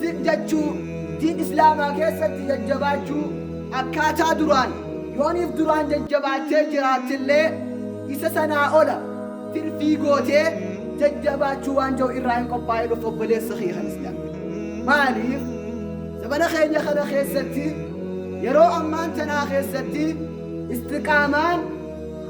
zidachuu, diin islaamaa keessatti jajjabaachuu, akkaataa duraan, yooniif duraan jajjabaattee jiraattellee isa sanaa ola tirfii gootee jajjabaachuu waan ja'u irraa hin qophaa'in of obboleessa kiyya kan islaam maaliif zabana keenya kana keessatti yeroo ammaan tanaa keessatti istiqaamaan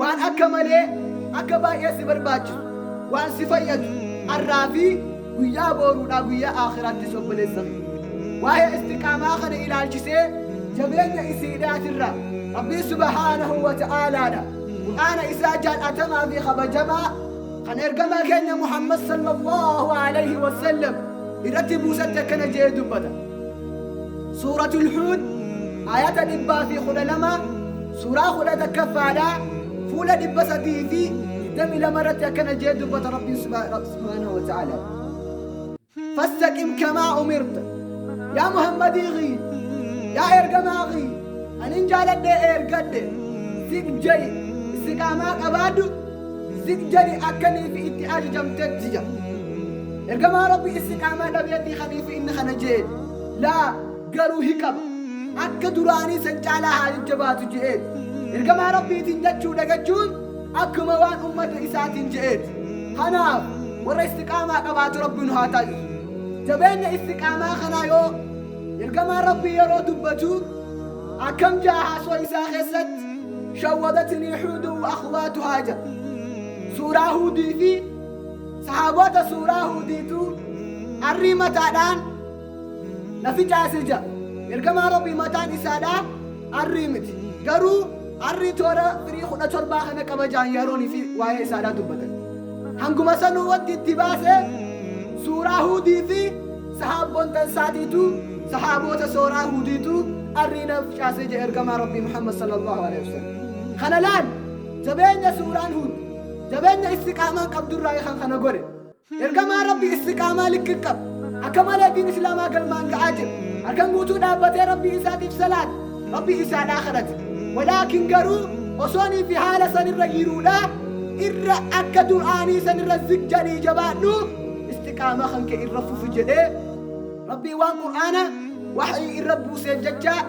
Waan akka malee akka baay'ee si barbaachisu, waan si fayyadu har'aa fi guyyaa booruudhaa guyyaa aakhiraattis obboleessa kiyya. Waa'ee istiqaamaa kana ilaalchisee jabeenya isiidhaatirra Rabbii subhaanahu wa ta'aalaadha. Qur'aana isaa jaal'atamaa fi kabajamaa kan ergamaa keenya Muhammad sallallahu alayhi wa sallam irratti buusatte akkana jedhee dubbata. Suuratul Huud ayata dhibbaa fi kudha lama Suuraa 11ffaadhaa fuula 322 irratti akkana jee dubbata Rabbiin subhaanahu wa ta'aalaa. Fastaqim kamaa umirta. Yaa Muhammadii kiyya, yaa ergamaa kiyya, anin jaaladhee ergadhe, sif jedhi, istiqaamaa qabaadhu, sif jedhi akkaniif itti ajajamtetti jedha. Ergamaa Rabbi istiqaamaa dhabeetii kaniif inni kana jeedhe. Laa garuu hin qabu. Akka duraanii san caalaa haa jajjabaatu je'een. Ergamaa Rabbiitiin jechuu dagachuun akkuma waan ummata isaatiin je'eeti. Kanaaf warra istiqaamaa qabaatu Rabbi nu haa taasisu. Jabeenya istiqaamaa kanaa yoo Ergamaan Rabbii yeroo dubbatu akkam ja'a haasoo isaa keessatti shawwadatnii huudun wa akhwaatuhaa ja'a. Suuraa Huudii fi sahaaboota suuraa Huudiitu arrii mataadhaan Nafi caase ja. Ergamaa Rabbii mataan isaadhaa arrii miti. Garuu arrii toora firii kudha torbaa kana qaba ja'an yaroon isii waa'ee isaadhaa dubbatan. Hanguma sanuu wanti itti baase suuraa Huudii fi sahaabboontan isaatiitu sahaaboota sooraa Huudiitu arrii naf caase ja ergamaa Rabbii Muhammad sallallahu alaihi wasallam. Kana laal jabeenya suuraan Huud jabeenya istiqaamaan qabdurraayi kan kana godhe. Ergamaan Rabbii istiqaamaa likki qaba. Akka malee diin Islaamaa galmaan ga'aa jira. Halkan guutuu dhaabbatee Rabbii isaatiif salaate. Rabbii isaadhaa kadhate. Walaakin garuu osoonii fi haala sanirra jiruudhaa irra akka dur'aanii sanirra zik jedhii jabaadhu istiqaamaa kan kee irra fufi jedhee Rabbii waan Qur'aana waxii irra buuseef jechaa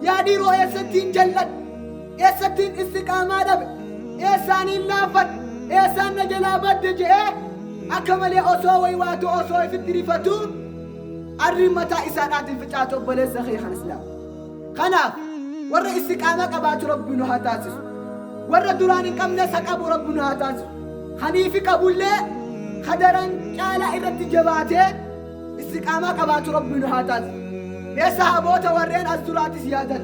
yaa dhiiroo eessattiin jal'adhu eessattiin istiqaamaa dhabe eessaaniin laaffadhe eessaan na jalaa badde je'ee akka malee osoo way waatu osoo ifitti rifatuu arriin mataa isaadhaatiin ficaatu obboleessa kee kan islaam kanaaf warra istiqaamaa qabaatu rabbi nu haa taasisu warra duraan hin qabne isa qabu rabbi nu haa taasisu kaniifi qabullee kadaran caalaa irratti jabaatee istiqaamaa qabaatu rabbi nu haa taasisu mee sahaboota warreen as duraatis yaadan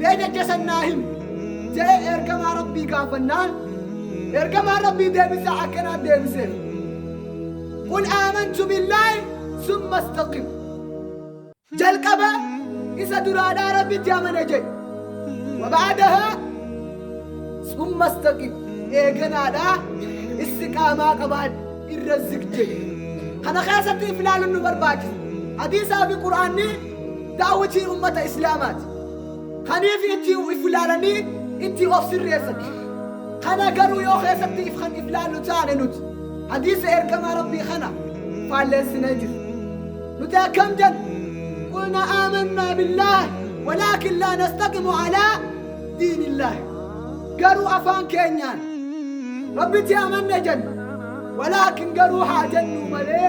Mee jecha san naa himi. je'ee Ergamaa Rabbii gaafannaan, Ergamaan Rabbii deebisaa akkanaan deebiseef, Qul aamantu billaahi summa istaqim. Jalqaba Isa duraadhaa Rabbitti amane je'i. Wa ba'adahaa summa istaqim. Eeganaadhaa istiqaamaa qabaadhu, irra zig je'i. Kana keessatti if laaluun nu barbaachisa. Hadiisaa fi Qur'aanni. Daawwitiin ummata Islaamaati. Kaniif itti if ilaalanii itti of sirreessan. Kana garuu yoo keessatti if kan if laallu taane nuti hadiisa ergamaa Rabbii kana faalleessinee jirra. Nuti akkam jenna? Qulna aamannaa billaah walaakin laa nastaqimu alaa diinillaah. Garuu afaan keenyaan Rabbitti amanne jenna. Walaakin garuu haa jennuu malee